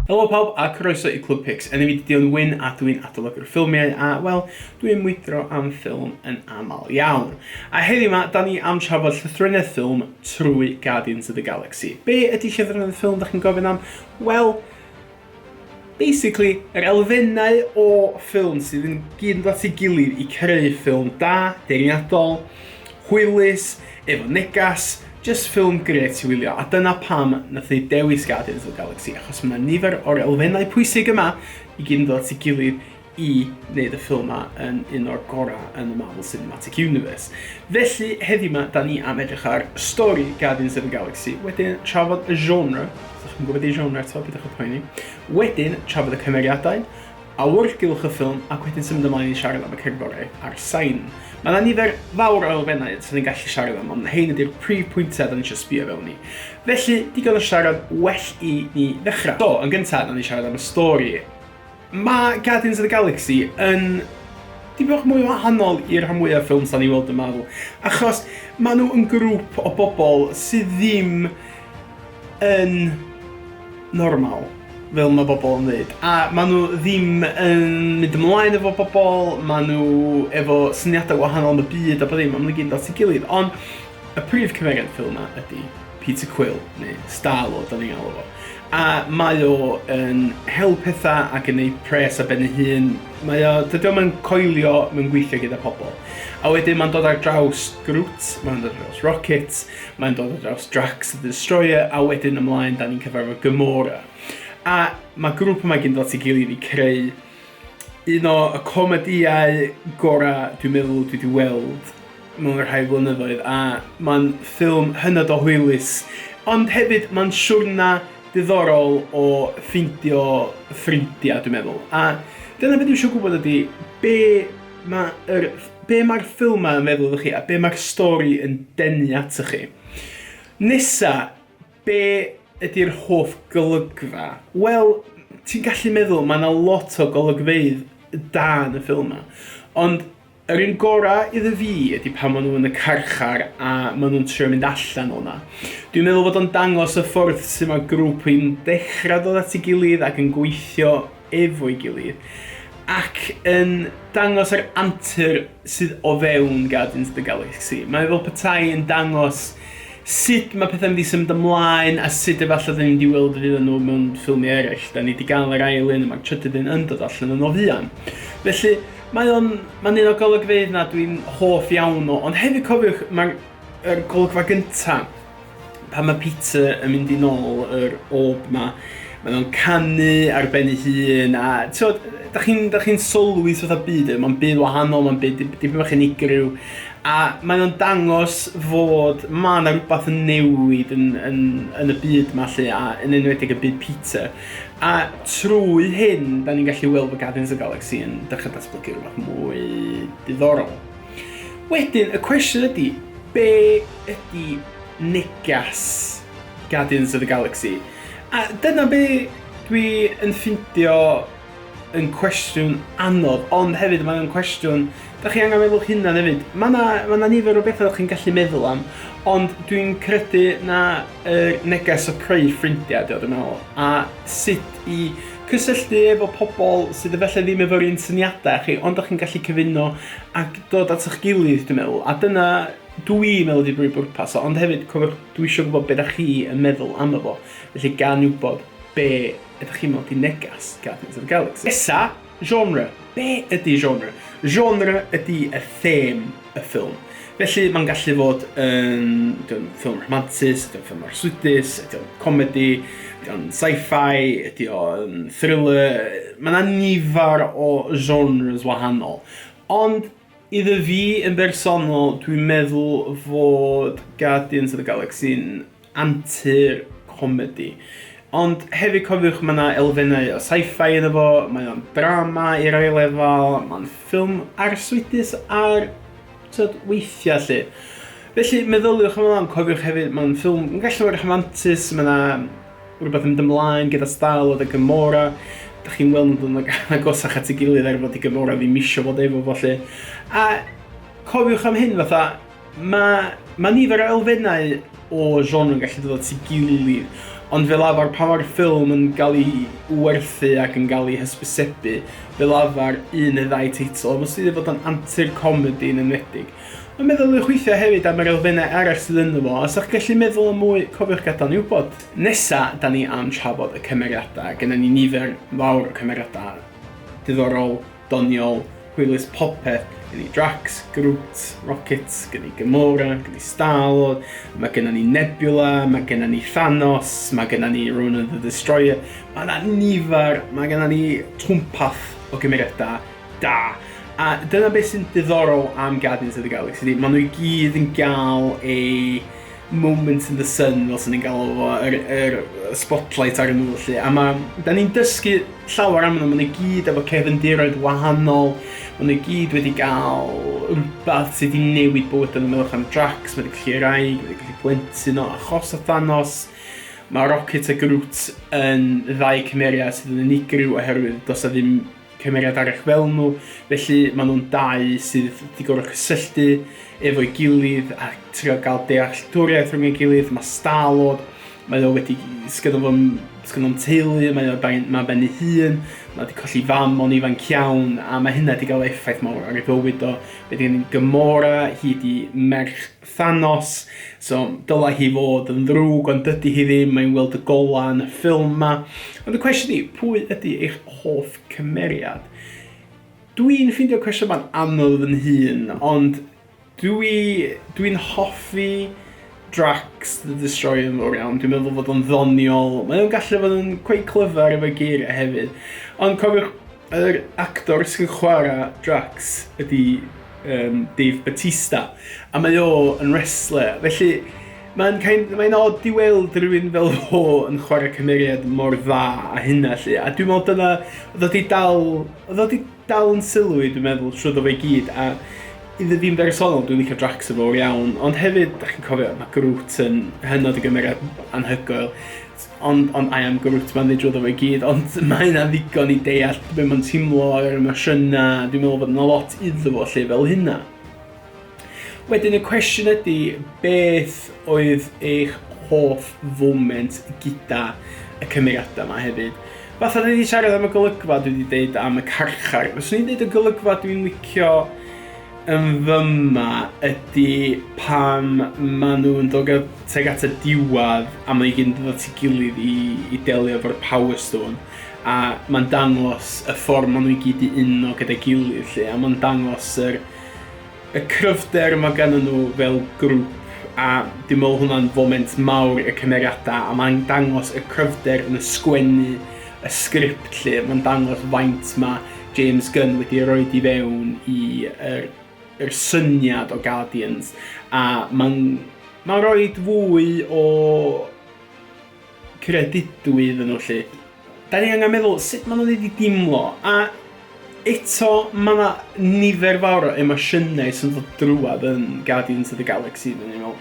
Helo pawb a croeso i Club Pix. Enw fi Dion Wyn a dwi'n adolygu'r ffilmiau a, wel, dwi'n mwydro am ffilm yn aml iawn. A heddiw yma, da ni am trafod llythrennedd ffilm trwy Guardians of the Galaxy. Be ydy llythrennedd ffilm, da chi'n gofyn am? Wel, Basically, yr elfennau o ffilm sydd yn gyd yn dod at ei gilydd i creu ffilm da, deniadol, hwylus, efo negas, jyst ffilm gret i wylio, a dyna pam nath ni dewis Guardians of the Galaxy, achos mae 'na nifer o'r elfennau pwysig yma i gyd yn dod at ei gilydd i wneud y ffilm 'ma yn un o'r gorau yn y Marvel Cinematic Universe. Felly, heddiw 'ma, da ni am edrych ar stori Guardians of the Galaxy, wedyn trafod y genre, os ydych chi'n gwybod ei genre eto, beth ydych poeni, wedyn trafod y cymeriadau, awyrgylch y ffilm ac wedyn symud ymlaen i siarad am y cerddorau a'r sain. Mae yna nifer fawr o elfennau sy'n ni'n gallu siarad am, ond hyn ydy'r prif pwyntiau da ni eisiau sbio fewn i. Felly, digon o siarad, well i ni ddechrau. So, yn gyntaf, da ni siarad am y stori. Mae Guardians of the Galaxy yn dipyn bach mwy wahanol i'r rhan mwyaf ffilms da ni weld yn Marvel. Achos maen nhw yn grŵp o bobl sydd ddim yn normal, fel mae bobl yn dweud. A maen nhw ddim yn mynd ymlaen efo bobl, maen nhw efo syniadau wahanol am y byd a bod ddim, maen nhw gyd yn dod at ei gilydd. Ond Y prif cymeriad y ffilm yma ydy Peter Quill, neu Star-Lord o'n i'n galw fo. A mae o yn hel pethau ac yn ei pres a ben ei hun. Mae o, dydy o'm yn coelio mewn gweithio gyda pobl. A wedyn mae'n dod ar draws Groot, mae'n dod ar draws Rocket, mae'n dod ar draws Drax the Destroyer, a wedyn ymlaen da ni'n cyfarfod Gamora. A mae grŵp yma gyn dod at ei gilydd i creu Un o y comedïau gorau dwi'n meddwl dwi 'di weld mewn y rhai flynyddoedd a mae'n ffilm hynod o hwylus ond hefyd mae'n siwrna diddorol o ffeindio ffrindiau dwi'n meddwl a dyna beth dwi eisiau gwybod ydy be mae yr be mae'r ffilmau yn feddwl iddo chi a be mae'r stori yn denu ato chi. Nesa, Be ydy'r hoff golygfa? Wel, ti'n gallu meddwl, mae yna lot o golygfeydd da yn y ffilm yma. Ond yr un gorau iddo fi ydy pan maen nhw yn y carchar a maen nhw'n trio mynd allan o'na. Dwi'n meddwl bod o'n dangos y ffordd sy'n mae grŵp yn dechrau dod at ei gilydd ac yn gweithio efo'i gilydd ac yn dangos yr antur sydd o fewn Guardians of the Galaxy. Mae fel petai yn dangos sut mae pethau'n mynd i symud ymlaen a sut efallai dyn ni'n di weld y fydd nhw mewn ffilmiau eraill. Da ni wedi gael yr ail un a mae'r trydydd un yn dod allan yn o fuan. Felly, Mae o'n, mae'n un o golygfeydd na dwi'n hoff iawn o, ond hefyd cofiwch, mae'r er golygfa gynta, Pan mae Peter yn mynd i nôl yr orb 'ma, mae o'n canu ar ben ei hun a t'od da chi'n da chi'n sylwi sut fatha byd yw, mae'n byd wahanol, mae'n byd dip- dipyn bach unigryw a mae o'n dangos fod ma' 'na rwbath yn newid yn yn yn y byd 'ma 'lly a yn enwedig y byd Peter. A trwy hyn, da ni'n gallu weld bod Guardians of the Galaxy yn dechra datblygu rwbath mwy diddorol. Wedyn, y cwestiwn ydy, be ydy negas Guardians of the Galaxy? A dyna be dwi yn ffindio yn cwestiwn anodd, ond hefyd mae'n cwestiwn, da chi angen meddwl hynna hefyd. Mae yna ma na nifer o bethau chi'n gallu meddwl am, ond dwi'n credu na y neges o creu ffrindiau, dwi'n meddwl, a sut i Cysylltu efo pobl sydd efallai ddim efo'r un syniadau â chi ond dach chi'n gallu cyfuno ac dod at eich gilydd dwi'n meddwl a dyna dw i'n meddwl ydi brif bwrpas o ond hefyd cofiwch dwi eisiau gwybod be dach chi yn meddwl amdano fo felly gan wybod be ydych chi'n meddwl ydi negas Guardians of the Galaxy. Nesa, genre. Be ydi genre? Genre ydi y theme. y ffilm. Felly, mae'n gallu fod yn ffilm rhamantus, ydy o'n ffilm arswydus, ydy o'n comedi, ydy o'n sci-fi, ydy o'n thriller, mae yna nifer o genres wahanol. Ond iddo fi yn bersonol, dwi'n meddwl fod Guardians of the Galaxy yn antur comedi. Ond hefyd cofiwch mae yna elfennau o sci-fi yn efo, mae o'n drama i rai lefel, mae'n ffilm arswydus ar tyd, weithiau lle. Felly meddyliwch amdano ond cofiwch hefyd mae'n ffilm yn gallu bod yn rhamantus, mae yna rhywbeth yn mynd ymlaen gyda Stal oedd y Gymora, da chi'n weld nhw'n dod yn agosach at ei gilydd er fod i Gymora ddim eisiau fod efo fo lle. A cofiwch am hyn fatha, Mae, mae nifer o elfennau o genre yn gallu dod at ei gilydd, ond fel arfer pan mae'r ffilm yn cael ei werthu ac yn cael ei hysbysebu, fel arfer un neu ddau teitl, a mostyn wedi bod yn antur comedi yn enwedig. Ond meddyliwch weithiau hefyd am yr elfennau arall sydd ynddo fo, a os ydych gallu meddwl am mwy, cofiwch gadael ni wybod. Nesa, da ni am trafod y cymeriadau, gynna ni nifer fawr o cymeriadau diddorol, doniol, hwylus popeth, gen ni Drax, Groot, Rocket, gen ni Gamora, gen ni Star-Lord, mae gennym ni Nebula, mae gennym ni Thanos, mae gennym ni Ronan the Destroyer, mae yna nifer, mae gennym ni twmpath o gymeriadau da. A dyna beth sy'n diddorol am Guardians of the Galaxy, maen nhw i gyd yn gael ei moment in the sun fel sy'n ni'n galw fo, yr, yr spotlight ar nhw lle. A mae, da ni'n dysgu llawer am nhw, maen nhw gyd efo cefndiroedd wahanol, maen nhw gyd wedi gael rhywbeth sydd wedi newid bywyd yn ymwch am Drax, mae wedi gallu rai, mae wedi gallu plentyn o achos o Thanos. Mae Rocket a Groot yn ddau cymeriad sydd yn unigryw oherwydd dos a ddim cymeriad arall fel nhw, felly maen nhw'n dau sydd wedi gorfod cysylltu efo'i gilydd a trio gael dealltwriaeth rhwng ei gilydd. Mae Star-Lord, mae o wedi, sgynno fo'n sgynno teulu, mae o ben, mae ben ei hun, mae wedi colli fam o'n ifanc iawn, a mae hynna wedi cael effaith mawr ar ei fywyd o. Wedyn Gamora, hi di merch Thanos, so dylai hi fod yn ddrwg ond dydy hi ddim, mae'n weld y golau yn y ffilm ma. Ond y cwestiwn i, pwy ydy eich hoff cymeriad? Dwi'n ffeindio cwestiwn ma'n anodd yn hun, ond dwi, dwi'n hoffi Drax the Destroyer yn fawr iawn. Dwi'n meddwl fod o'n ddoniol. Mae o'n gallu fod yn quite clyfar efo geiriau hefyd. Ond cofiwch, Yr actor sy'n chwarae Drax ydy um, Dave Batista, a mae o yn wrestler, felly mae'n kind, mae odd i weld rhywun fel ho yn chwarae cymeriad mor dda a hynna lle, a dwi'n meddwl dyna, oedd wedi dal, oedd wedi dal yn sylw i, dwi'n meddwl, trwy ddo fe gyd, a iddo fi'n bersonol, dwi'n licio Drax yn fawr iawn, ond hefyd, da chi'n cofio, mae Groot yn hynod o gymeriad anhygoel, Ond, ond I am Groot, mae'n dweud drwyddo fo i gyd, ond mae yna ddigon i deall be mae'n teimlo ar yr emosiynau, dwi'n meddwl bod yna lot iddo fo lle fel hynna. Wedyn y cwestiwn ydy, beth oedd eich hoff foment gyda y cymeriadau yma hefyd? Fath oedd wedi siarad am y golygfa dwi wedi deud am y carchar, fyswn i'n deud y golygfa dwi'n licio Ymfyma ydi pan maen nhw'n dod at, tuag at y diwedd a mae gyd yn dod at ei gilydd i, i delio efo'r Power Stone a mae'n dangos y ffordd maen nhw i gyd i uno gyda'i gilydd lle a mae'n dangos yr, y cryfder mae gan nhw fel grŵp a dwi'n meddwl hwnna'n foment mawr y cymeriadau a mae'n dangos y cryfder yn y sgwennu y sgript 'lly, mae'n dangos faint mae James Gunn wedi rhoi di fewn i yr, yr syniad o Guardians, a mae'n ma rhoi fwy o credidwy iddyn nhw lle. Da ni angen meddwl sut maen nhw wedi dimlo, a Eto, mae yna nifer fawr o emosiynau sy'n dod drwad yn Guardians of the Galaxy, dyn ni'n meddwl.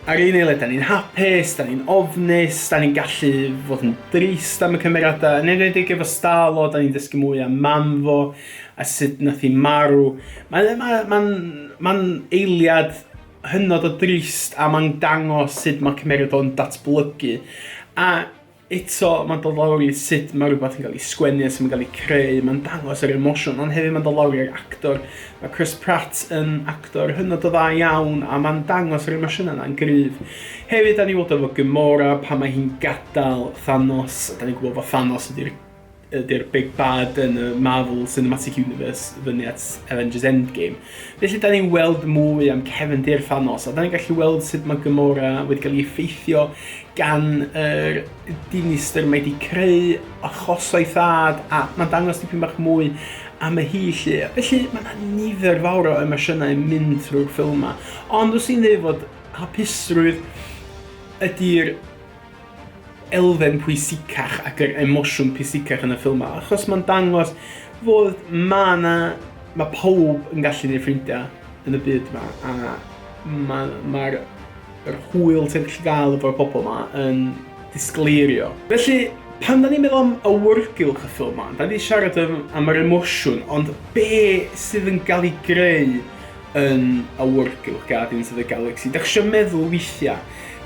Ar un eiliad, da ni'n hapus, da ni'n ofnus, da ni'n gallu fod yn drist am y cymeradau, yn enwedig efo Starlo, da ni'n dysgu mwy am mam fo, a sut nath i marw. Mae'n ma, ma, ma eiliad hynod o drist, a mae'n dangos sut mae cymeriad o'n datblygu. A Eto, mae'n dod lawr i sut mae rhywbeth yn cael ei sgwennu a sut mae'n cael ei creu, mae'n dangos yr emosiwn, ond hefyd mae'n dod lawr i'r actor. Mae Chris Pratt yn actor hynod o dda iawn a mae'n dangos yr emosiynau yna'n gryf. Hefyd, da ni weld efo Gamora pan mae hi'n gadael Thanos, da ni'n gwybod bod Thanos ydy'r ydy'r big bad yn y Marvel Cinematic Universe fyny at Avengers Endgame. Felly, da ni'n weld mwy am cefndir Thanos, a da ni'n gallu weld sut mae Gamora wedi cael ei effeithio gan yr er dinistr mae wedi creu achoso'i thad, a mae'n dangos dipyn bach mwy am y hi lle. Felly, mae yna nifer fawr o emosiynau yn mynd trwy'r ffilm yma. Ond os i'n dweud fod hapusrwydd ydy'r elfen pwysicach ac yr emosiwn pwysicach yn y ffilm ma, achos mae'n dangos fod ma na, mae pawb yn gallu neud ffrindiau yn y byd ma, a mae'r ma yr hwyl ti'n gallu gael efo'r pobl ma yn disgleirio. Felly, pan da ni'n meddwl am awyrgylch y ffilm ma, da ni siarad am, am yr emosiwn, ond be sydd yn cael ei greu yn awyrgylch Guardians of the Galaxy. Da chi meddwl weithiau,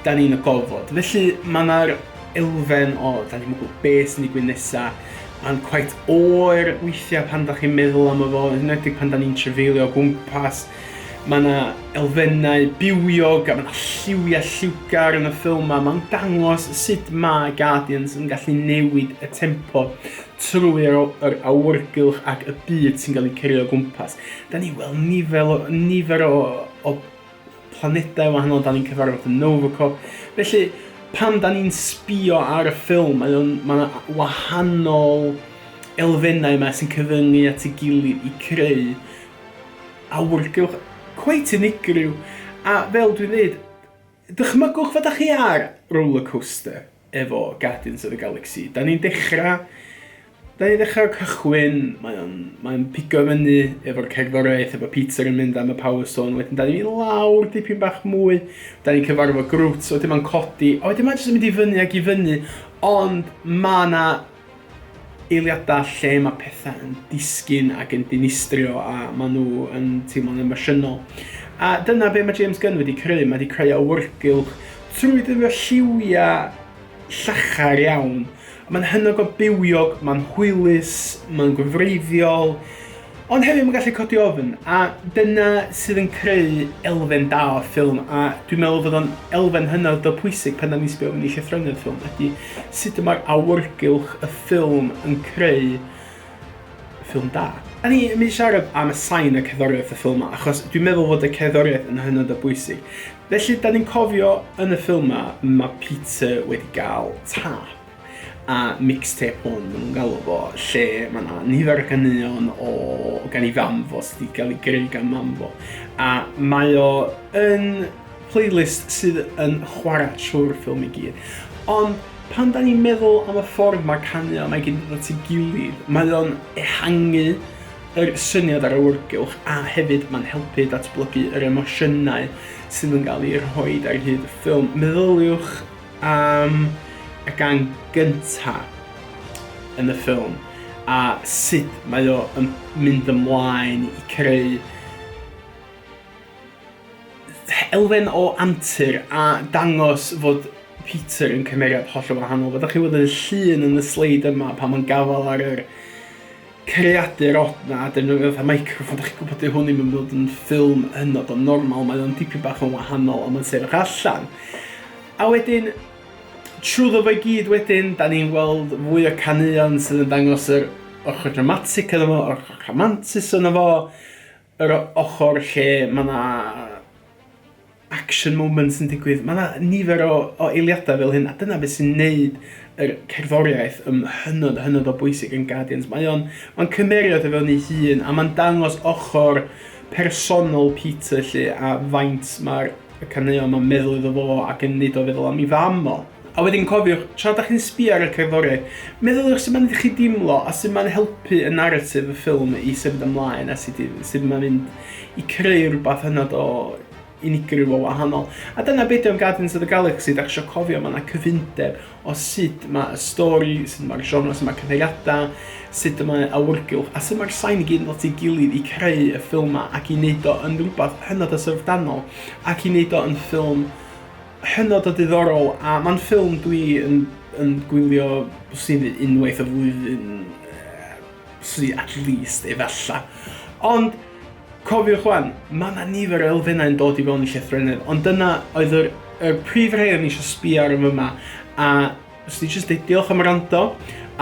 da ni'n y gofod. Felly mae yna'r elfen o, da ni'n meddwl beth sy'n digwydd nesaf. Mae'n quite oer weithiau pan da chi'n meddwl am y fo, yn edrych pan da ni'n trefeilio gwmpas. Mae yna elfennau bywiog a mae yna lliwiau lliwgar yn y ffilm yma. Mae'n dangos sut mae Guardians yn gallu newid y tempo. trwy yr awyrgylch ac y byd sy'n cael ei cerio o gwmpas. Da ni weld nifer o, nifer o, o planedau wahanol, da ni'n cyfarfod yn Novacop. Felly, pan da ni'n sbio ar y ffilm, mae yna ma wahanol elfennau yma sy'n cyfyngu at y gilydd i creu awyrgylch cweit unigryw. A fel dwi'n dweud, Dychmygwch fod â chi ar roller coaster efo Guardians of the Galaxy. Da ni'n dechrau... Da ni'n dechrau o'r cychwyn, mae o'n, mae o'n pigo fyny efo'r cerddoriaeth, efo Peter yn mynd am y Power Stone, wedyn da ni'n mynd lawr dipyn bach mwy, da ni'n cyfarfod Groot, wedyn mae'n codi, a wedyn mae'n jyst yn mynd i fyny ac i fyny, ond mae yna eiliadau lle mae pethau yn disgyn ac yn dinistrio a maen nhw yn teimlo'n emosiynol. A dyna be mae James Gunn wedi creu, mae wedi creu awyrgylch trwy ddefnyddio lliwiau llachar iawn. Mae'n hynod o bywiog, mae'n hwylus, mae'n gwreiddiol, Ond hefyd mae'n gallu codi ofn, a dyna sydd yn creu elfen da o'r ffilm, a dwi'n meddwl fod o'n elfen hynod o pwysig pan da ni'n sbio fyny llythrennau'r ffilm, ydy sut y mae'r awyrgylch y ffilm yn creu ffilm da. A ni yn mynd i siarad am y sain a cerddoriaeth y ffilm yma, achos dwi'n meddwl fod y cerddoriaeth yn hynod o bwysig. Felly, da ni'n cofio yn y ffilm yma, mae Peter wedi cael tap. a mixtape hwn maen nhw'n galw fo, lle mae yna nifer o ganeuon o gan i fam fo sydd wedi cael ei greu gan mam fo. A mae o yn playlist sydd yn chwarae trwy'r ffilm i gyd. Ond pan da ni'n meddwl am y ffordd mae caneuon mae gyd yn dod at ei gilydd, mae o'n ehangu yr syniad ar awyrgylch a hefyd mae'n helpu datblygu yr emosiynau sydd yn cael ei rhoi ar hyd y ffilm. Meddyliwch am y gan gynta yn y ffilm a sut mae o yn mynd ymlaen i creu elfen o antur a dangos fod Peter yn cymeriad hollol wahanol. Fyddwch chi weld yn y llun yn y sleid yma pan mae'n gafael ar yr creadur od na defnyddio fatha microffon, dach chi'n gwybod, dyw hwn ddim yn bod yn ffilm hynod o normal, mae o'n dipyn bach yn wahanol am yn sefyll allan. A wedyn, trwyddo fe gyd wedyn, da ni'n gweld fwy o caneuon sydd yn dangos yr ochr dramatic yna fo, yr ochr rhamantus yna fo, Yr ochr lle mae 'na action moments yn digwydd, mae 'na nifer o o eiliadau fel hyn, a dyna beth sy'n neud yr cerddoriaeth yn hynod, hynod o bwysig yn Guardians. Mae o'n ma'n cymeriad o fewn ei hun, a mae'n dangos ochr personol Peter 'lly, a faint ma'r y caneuon 'ma'n meddwl iddo fo ac yn neud o feddwl am 'i fam o. A wedyn cofiwch, tra da chi'n sbio ar y cerddoriaeth, meddyliwch sut mae'n neud i chi deimlo a sut mae'n helpu y naratif y ffilm i symud ymlaen a sut, sut mae'n mynd i creu rhywbeth hynod o unigryw o wahanol. A dyna beth am Guardians of the Galaxy, da chi eisiau cofio, mae yna cyfundeb o sut mae y stori, sut mae'r genre, sut mae cyfeiriadau, sut mae awyrgylch, a sut mae'r sain i gyd yn dod i gilydd i creu y ffilm yma ac i wneud o yn rhywbeth hynod o syfrdanol ac i wneud o yn ffilm hynod o diddorol a mae'n ffilm dwi yn, yn gwylio sy'n unwaith y flwyddyn sy at least efalla. Ond cofiwch wan, mae yna nifer o elfennau yn dod i fewn i llythrennedd, ond dyna oedd yr, y prif rhai o'n eisiau sbio ar yma a Os ti jyst deud diolch am rando,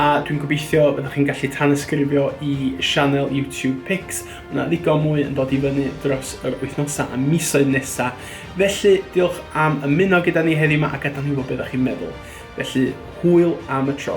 a dwi'n gobeithio byddwch chi'n gallu tanysgrifio i sianel YouTube Pix. Mae yna ddigon mwy yn dod i fyny dros yr wythnosau a misoedd nesaf. Felly, diolch am ymuno gyda ni heddiw yma a gadael ni wybod beth ydych chi'n meddwl. Felly, hwyl am y tro.